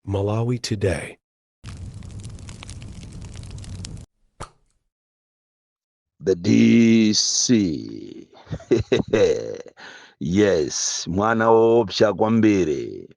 Malawi Today. the dc yes mwana woopsa kwambiri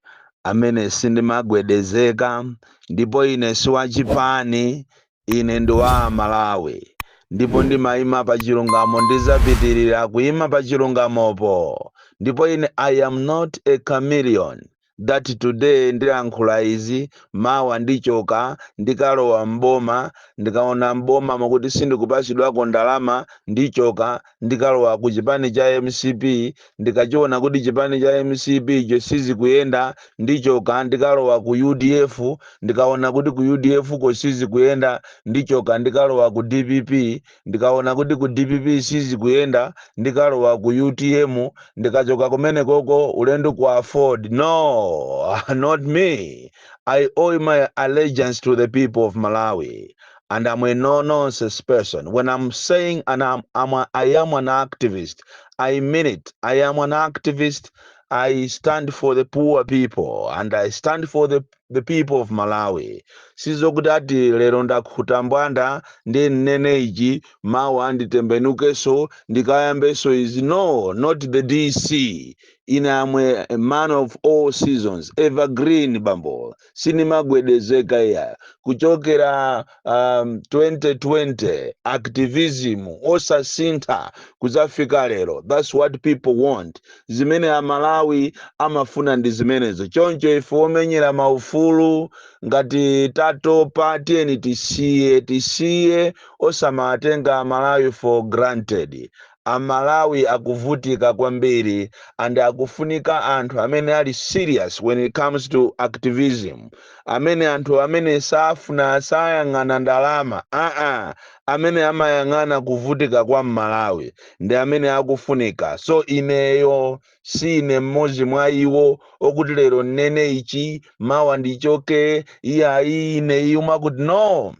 amene sindimagwedezeka ndipo ine si wachipani Ine ndi wa Malawi ndipo ndimaima pa chilungamo ndizapitilira kuima pa chilungamopo ndipo ine I am not a chameleon that today ndilankhula izi mawa ndichoka ndikalowa m'boma ndikaona m'bomamo kuti sindikupatsidwako ndalama ndichoka ndikalowa ku chipani cha mcp ndikachiona kuti chipani cha mcp icho sizikuyenda ndichoka ndikalowa ku udf ndikaona kuti ku udf ko sizikuyenda ndichoka ndikalowa ku dpp ndikaona kuti ku dpp sizikuyenda ndikalowa ku utm ndikachoka kumene koko ulendo ku afford no not me i owe my allegiance to the people of malawi and I'm a no nonsense person. When I'm saying and I'm, I'm a, I am an activist, I mean it. I am an activist. I stand for the poor people and I stand for the, the people of Malawi. Sizokuti ati lero ndakhuta mbwanda ndi nnene ichi mawa anditembenukeso ndikayambeso izi no not the DC. Ine am a man of all seasons evergreen bambo sinimagwedezeka iya kuchokera 2020 activism osasintha kuzafika lero that's what people want zimene amalawi amafuna ndi zimenezo choncho ife omenyera maufulu ngati tatopa tiyeni tisiye tisiye osamatenga amalawi for granted Amalawi akuvutika kwambiri and akufunika anthu amene ali serious when it comes to activism, amene anthu amene safuna sayang'ana ndalama aa amene amayang'ana kuvutika kwa m'Malawi ndi amene akufunika so ineyo si ine mmodzi mwa iwo okuti lero nnene ichi mawa ndichoke iyayi ine iyu mwakuti no!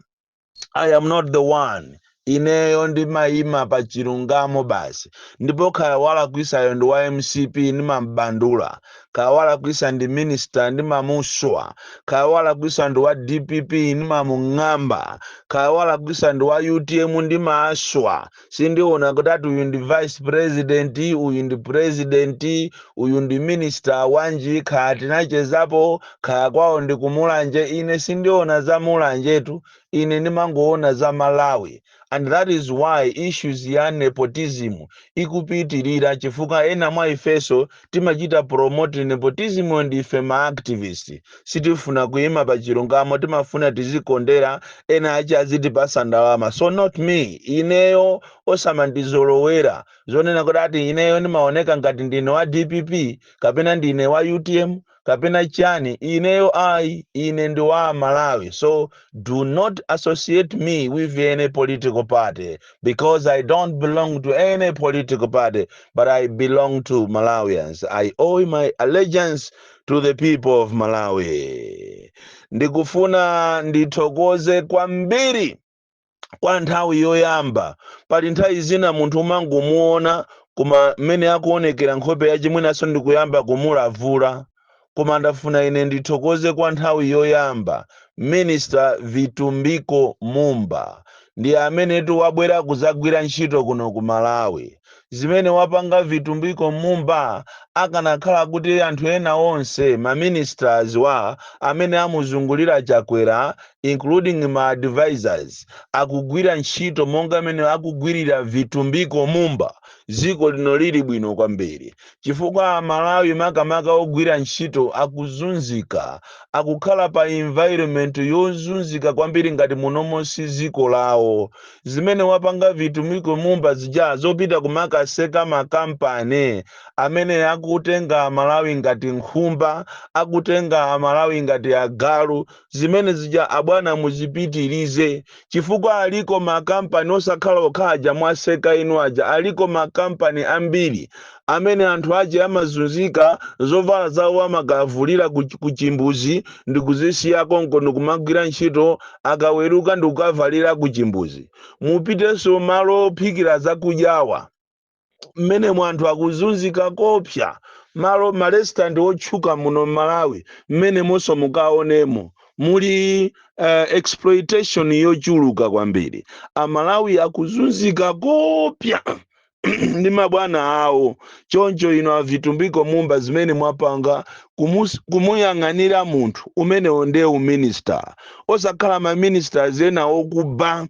i am not the one ineyo ndimayima pa chilungamo basi ndipo khaya walakwisayo ndi wa mcp ndimambandula khaya walakwisa ndi minister ndimamuswa khaya walakwisa ndi wa dpp ndimamung'amba khaya walakwisa ndi wa utm ndimaaswa sindiona kuti ati uyu ndi vice president uyu ndi president uyu ndi minister wanji kaya tinachezapo kaya kwawo ndi ku Mulanje ine sindiona za Mulanjetu ine ndimangoona za malawi and that is why issues ya nepotism ikupitirira chifukwa ena mwa ifeso timachita promote nepotism ndi ife ma activist sitifuna kuima pa chilungamo timafuna tizikondera ena achi azitipasa ndalama so not me ineyo osamandizolowera zonena kuti ati ineyo ndimaoneka ngati ndine wa dpp kapena ndine wa utm kapena chani ineyo ayi ine ndi wa Malawi so do not associate me with any political party because I don't belong to any political party but I belong to Malawians I owe my allegiance to the people of Malawi ndikufuna ndithokoze kwambiri kwa nthawi yoyamba pali nthawi zina munthu umangomuona koma mmene akuonekera nkhope yace mwinanso ndikuyamba kumulavula koma ndafuna ine ndithokoze kwa nthawi yoyamba minister vitumbiko mumba ndi amenetu wabwera kudzagwira ntchito kuno ku malawi zimene wapanga vitumbiko mumba akanakhala kuti anthu ena onse ma ministers wa amene amuzungulira chakwera including ma advisors akugwira ntchito monga mmene akugwirira vitumbiko mumba dziko lino lili bwino kwambiri chifukwa amalawi makamaka ogwira ntchito akuzunzika akukhala pa environment yozunzika kwambiri ngati munomo si ziko lawo zimene wapanga vitumbiko mumba zija zopita kumakaseka makampani amene akutenga amalawi ngati nkhumba akutenga amalawi ngati agalu zimene zija abwana muzipitilize chifukwa aliko makampani osakhala okha aja mwaseka inu aja aliko makampani ambiri amene anthu ache amazunzika zovala zawo amakavulira ku, ku chimbuzi ndikuzisiya konko ndikumagwira ntchito akaweruka ndikukavalira ku chimbuzi mupitenso malo ophikira zakudyawa mmenemo anthu akuzunzika kopsa malo maresitanti otchuka muno mmalawi mmenemonso mukaonemo muli uh, exploitation yochuluka kwambiri amalawi akuzunzika kopsa ndi mabwana awo choncho inu avitumbiko mumba zimene mwapanga kumus- kumuyang'anira munthu umenewu ndiye uminista osakhala maministers ena okuba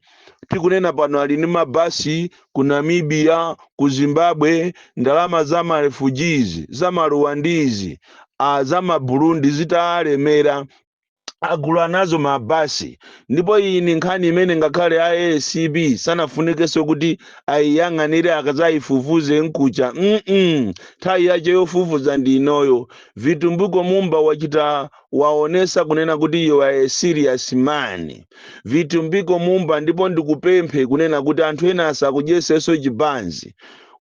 tikunena pano ali ndi mabasi ku namibia ku zimbabwe ndalama za marefugees za maruwandizi a za maburundi zitawalemera agula nazo mabasi ndipo iyi ni nkhani imene ngakhale a acb sanafunikenso kuti ayiyang'anire akazayifufuze nkucha mm nthawi yache yofufuza ndi inoyo vitumbiko mumba wachita waonesa kunena kuti you are a serious man vitumbiko mumba ndipo ndikupemphe kunena kuti anthu ena asakudyeseso chibanzi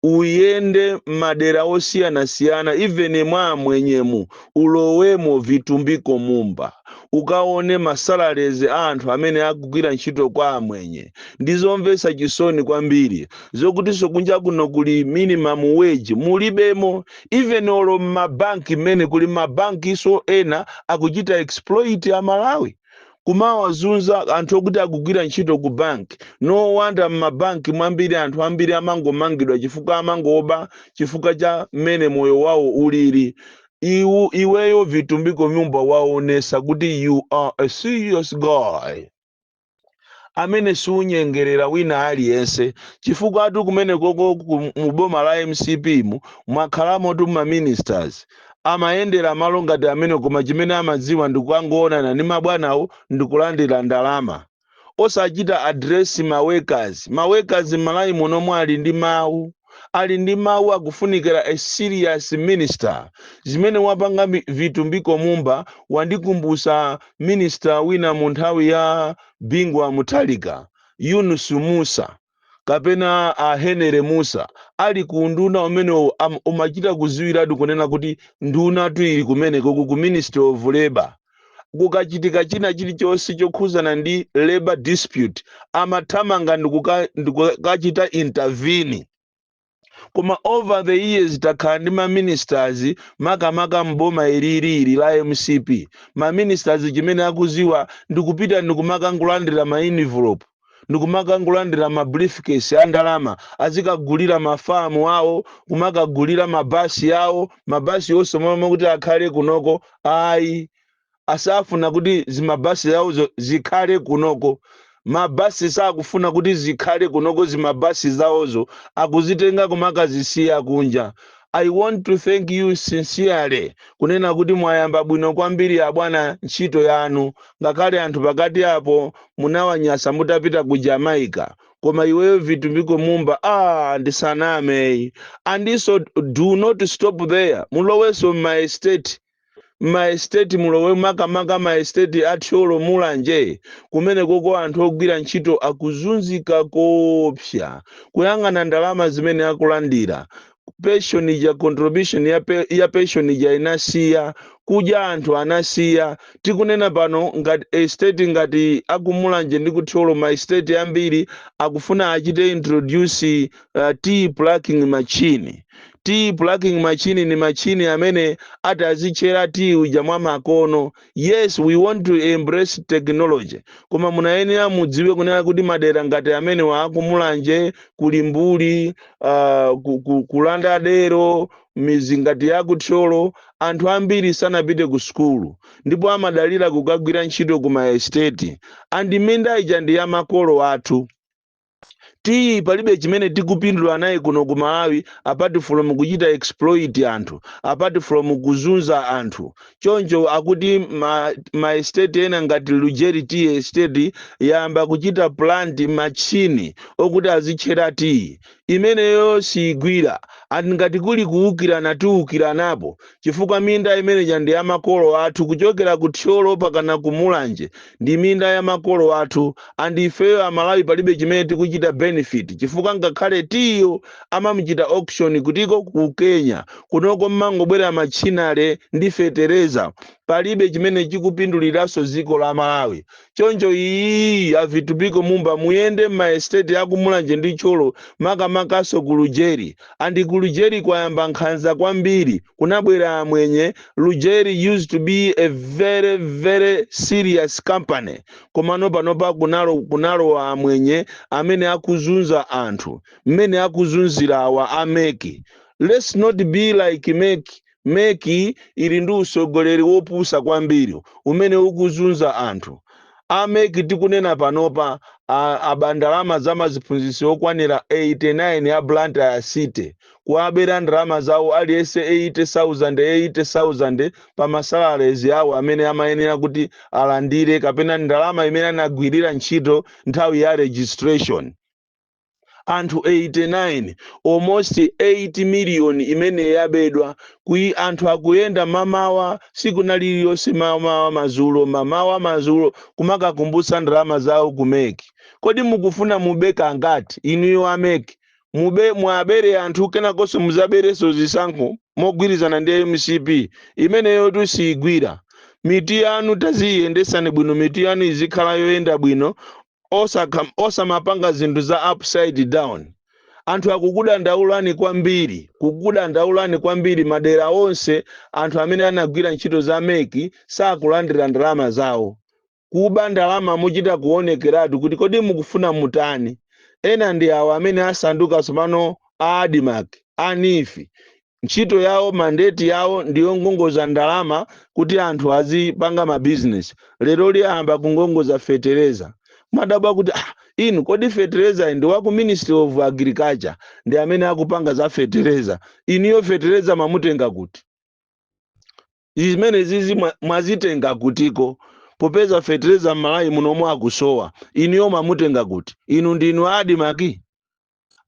uyende madera osiyanasiyana even mwa amwenyemu ulowemo vitumbiko mumba ukaone masalalezi a anthu amene akugwira ntchito kwa amwenye ndizomvesa chisoni kwambiri zokutinso kunja kuno kuli minimum wage mulibemo even olo mmabanki mmene kuli mabankiso ena akuchita exploit a Malawi kumawazunza anthu okuti akugwira ntchito ku bank, no wonder mmabanki mwambiri anthu ambiri amangomangidwa chifukwa amangoba chifukwa cha mmene moyo wawo ulili, iweyo Vitumbiko Mumba waonesa kuti you are a serious guy. amene siunyengerera wina aliyense chifukwatu kumenekoko ku mu boma la mcp mwakhalamotu ma ministers amayendera malo ngati amenewo koma chimene amadziwa ndikukangoonana ndi mabwanawo ndikulandira ndalama osachita address ma workers ma workers m'malawi muno ali ndi mawu Ali ndi mau akufunikila a serious minister zimene wapanga vitumbiko mumba wandikumbusa minister wina munthawi ya Bingu wa Mutharika Yunus musa kapena a Henery musa ali ku unduna umenewo umachita kuziwilatu kunena kuti ndunatu ili kumenekoku ku ministry of labour kukachitika china chilichonse chokhuzana ndi labor dispute amathamanga ndikuka- ndikukachita intervene koma over the years takhala ndi maministers makamaka mboma ilili la mcp maministers chimene akuziwa ndikupita ndikumakangolandira ma envelope ndikumakangolandira ma briefcase a ndalama azikagulira mafamu awo kumakagulira mabasi awo mabasi onse momwe mokuti akhale kunoko ayi asafuna kuti zimabasi zawozo zikhale kunoko mabasi sakufuna kuti zikhale kunoko zimabasi zawozo akuzitenga kumakazisiya kunja I want to thank you sincerely kunena kuti mwayamba bwino kwambiri abwana ntchito yanu ngakhale anthu pakati apo munawanyasa mutapita ku Jamaica koma iweyo vitumbiko mumba ah ndisaname eyi and so do not stop there mulowenso m'ma estate maestate mulowe makamaka maestate a thyolo mulanje kumenekoko anthu ogwira ntchito akuzunzika koopsa kuyang'ana ndalama zimene akulandira pension ija contribution ya pension ija inasiya kudya anthu anasiya tikunena pano ngati estate ngati akumulanje ndi kuthyolo maestate ambiri akufuna achite introduce uh, tea plucking machine tea plucking machine ni machine amene atazitchera tea uja mwa makono yes we want to embrace technology koma munayenera mudziwe kunena kuti madera ngati amenewa akumulanje kuli mbuli uh, ku, ku, kulanda dero midzi ngati ya kuthyolo anthu ambiri sanapite ku sukulu ndipo amadalira kukagwira ntchito ku maesteti and minda ija ndi ya makolo athu tiyi palibe chimene tikupindula naye kuno ku malawi apart from kuchita exploit anthu apart from kuzunza anthu choncho akuti ma, ma estate ena ngati lujeri tea estate yayamba kuchita plant machine okuti azitchera tiyi imeneyo siyigwira and ngati kuli kuwukirana tiwukiranapo chifukwa minda imeneja ndi ya makolo athu kuchokera ku Thyolo pakana ku Mulanje ndi minda ya makolo athu and ifeyo amalawi palibe chimene tikuchita benefit chifukwa ngakhale tiyiyo amamuchita auction kutiko ku Kenya kunoko mmangobwera machinery ndi fetereza palibe chimene chikupinduliranso dziko la Malawi choncho iyi a vitumbiko mumba muyende m'maesiteti a ku mulanje ndi thyolo makamakanso ku lujeri and ku lujeri kwayamba nkhanza kwambiri kunabwera amwenye lujeri used to be a very very serious company komano panopa kunalo kunalowa amwenye amene akuzunza anthu mmene akuzunzira awa a mec let's not be like mec Mec ili ndi usogoleri wopusa kwambiri umene ukuzunza anthu. A mec tikunena panopa aba ndalama za maziphunzitsi okwanira 89 a Blantyre city. Kuwabera ndalama zawo aliyese 80,000, 80,000 pa ma salaries awo amene amayenera kuti alandire kapena ndalama imene anagwirira ntchito nthawi ya registration. anthu 89 almost 8 million imene yabedwa kuti anthu akuyenda mamawa siku na liliyonse mamawa mazulo mamawa mazulo kumakakumbutsa ndalama zawo ku mec kodi mukufuna mube kangati inuyo a mec mube muwabere anthu kenakonso muzaberenso zisankho mogwirizana ndi mcp imeneyotu siyigwira mitu yanu taziyiyendetsani bwino mitu yanu izikhala yoyenda bwino osakha osamapanga zinthu za upside down anthu akukudandaulani kwambiri kukudandaulani kwambiri madera onse anthu amene anagwira ntchito za mec sakulandira ndalama zawo kuba ndalama mochita kuonekeratu kuti kodi mukufuna mutani ena ndi awo amene asanduka tsopano a admarc a neef Ntchito yawo, mandate yawo ndi yongongoza ndalama kuti anthu azipanga ma business. Leroli ayamba kungongoza fetereza. Kumadabwa kuti ah, inu kodi feterezayi ndi waku Ministry of Agriculture ndi amene akupanga za fetereza. Inuyo fetereza mwamutenga kuti? Zimenezizi mwa- mwazitenga kutiko? Popeza fetereza m'Malawi munomu akusowa, inuyo mwamutenga kuti? Inu ndinu a Admarc?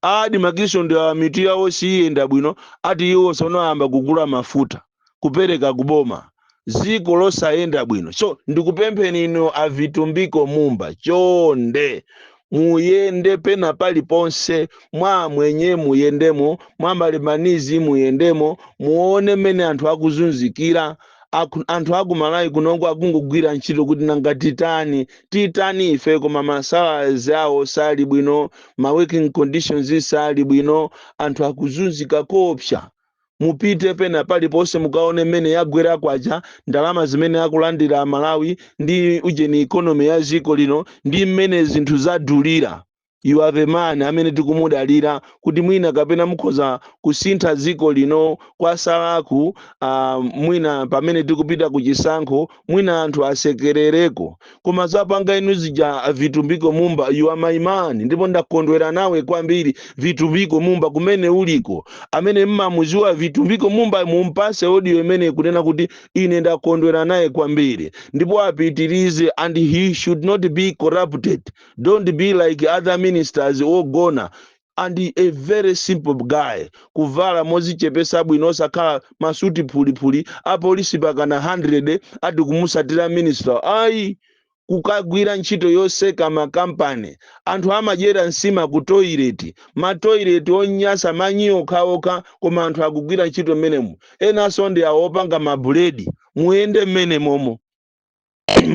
A Admarcnso ndiye mitu yawo siiyenda bwino ati iwo sono ayamba kugula mafuta kupereka ku boma. Dziko losayenda bwino so ndikupempheni inu a Vitumbiko Mumba chonde muyende pena paliponse mwa amwenye muyendemo, mwa ma Lebanese muyendemo muone mmene anthu akuzunzikira. Anthu aku malawi kunoko akungogwira ntchito kuti nanga titani titani ife koma masalaries awo sali bwino ma working conditions sali bwino anthu akuzunzika koopsa mupite pena paliponse mukaone mmene yagwera kwacha ndalama zimene akulandira amalawi ndi ujeni economy ya dziko lino ndi mmene zinthu zadulira You are the man amene tikumudalira kuti mwina kapena mukhoza kusintha dziko lino kwasalaku uh, mwina pamene tikupita ku chisankho mwina anthu asekerereko koma zapanga inu zija vitumbiko mumba you are my man ndipo ndakondwera nawe kwambiri vitumbiko mumba kumene uliko amene mmamuziwa vitumbiko mumba mumpase audio imeneyi kunena kuti ine ndakondwera naye kwambiri ndipo apitirize and he should not be corrupted don't be like other ministers ogona and a very simple guy kuvala mozichepesa bwino osakhala masuti phuliphuli apolisi pakana 100 ati kumusatira minister ayi kukagwira ntchito yoseka makampani anthu amadyera nsima ku toilet matoilet onyasa manyi okhaokha koma anthu akugwira ntchito mmenemo enanso ndi awowo opanga mabuledi muyende mmene momo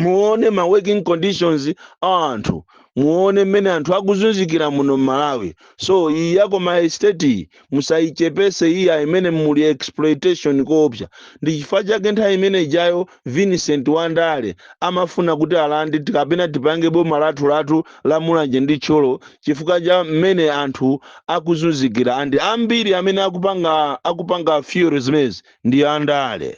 muone ma working conditions a anthu muone mmene anthu akuzunzikira muno mmalawi so iyi ya ku ma estate iyi musayichepese iyi imene muli exploitation koopsa ndi chifukwa chake nthawi imene ijayo vincent wandale amafuna kuti alande ti- kapena tipange boma lathu lathu la mulanje ndi tcholo chifukwa cha mmene anthu akuzunzikira and ambiri amene akupanga fuel zimenezi ndi andale